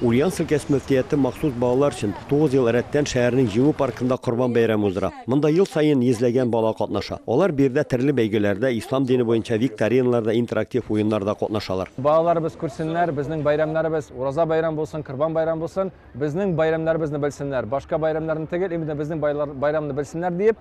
Ульяновск өлкәсе мөфтияте махсус балалар өчен тугыз ел рәттән шәһәрнең Җиңү паркында Корбан бәйрәме уздыра. Монда ел саен йөзләгән бала катнаша. Алар биредә төрле бәйгеләрдә, ислам дине буенча викториналарда, интерактив уеннарда катнашалар. Балаларыбыз күрсеннәр, безнең бәйрәмнәребез Ураза бәйрәме булсын, Корбан бәйрәме булсын, безнең бәйрәмнәребезне белсеннәр, башка бәйрәмнәрне түгел, именно безнең бәйрәмне белсеннәр диеп,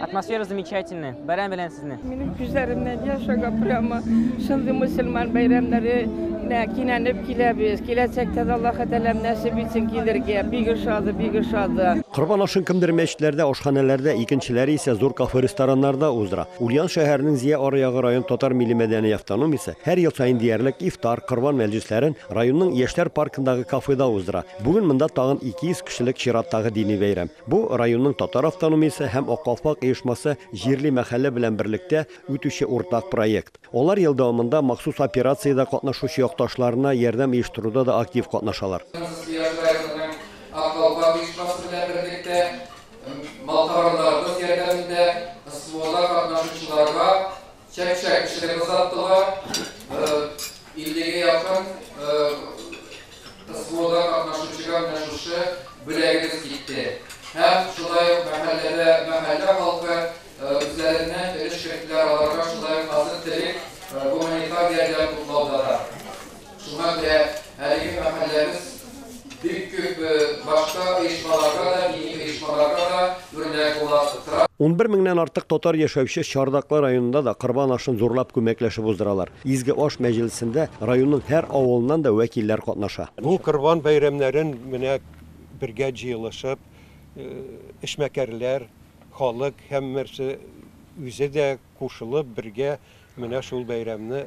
Атмосфера замечательная. Бәрән белән сезне. Минем күзләремнән яшь ага прямо. Шундый мусульман бәйрәмнәре нә кинәнеп киләбез. Киләчәктә дә Аллаһ Тәгалә нәсип итсен килергә. Бик ошады, бик ошады. Корбан ашын кемдер мәчетләрдә, ашханәләрдә, икенчеләре исә зур кафе-рестораннарда уздыра. Ульян шәһәренең Зия аръягы район татар милли-мәдәни автономиясе һәр ел саен диярлек ифтар, корбан мәҗлесләрен районның Яшьләр паркындагы кафеда уздыра. Бүген монда тагын 200 кешелек чираттагы дини бәйрәм. Бу районның татар автономиясе һәм Ак калфак оешмасы җирли мәхәллә белән берлектә үтүче уртак проект. Алар ел дәвамында махсус операциядә катнашучы якташларына ярдәм оештыруда да актив катнашалар. Кыргыз яшь районының Ак калфак оешмасы белән берлектә малкарларыбыз ярдәмендә СВОда катнашучыларга Чәк-чәк кешене кызарттылар, 50 гә якын СВОда катнашучыга менә шушы бүләгебез китте. Һәм шулай ук мәхәлләдә мәхәллә халкы үзләреннән өлеш керттеләр, аларга шулай ук азык-төлек, гуманитар ярдәм туплауда да. Шуңа күрә әлеге мәхәлләбез бик күп башка оешмаларга да, дини оешмаларга да үрнәк була тора. Унбер меңнән артык татар яшәүче Чардаклы районында да Корбан ашын зурлап күмәкләшеп уздыралар. Изге аш мәҗлесендә районның һәр авылыннан да вәкилләр катнаша. Бу Корбан бәйрәмнәрен менә бергә җыелышып, эшмәкәрләр, халык һәммәрсе үзе дә кушылып, бергә менә шул бәйрәмне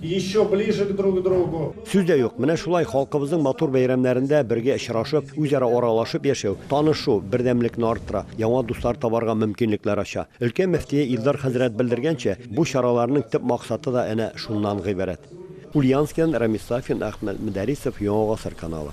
Еще ближе к друг другу. Сүз дә юк, менә шулай халкыбызның матур бәйрәмнәрендә бергә очрашып, үзара аралашып яшәү, танышу, бердәмлекне арттыра, яңа дуслар табарга мөмкинлекләр ача. Өлкә мөфтие Илдар хәзрәт белдергәнчә, бу чараларның төп максаты да әнә шуннан гыйбарәт. Ульяновскидан Рамис Сафин, Әхмәт Мөдәрисов, Яңа гасыр каналы.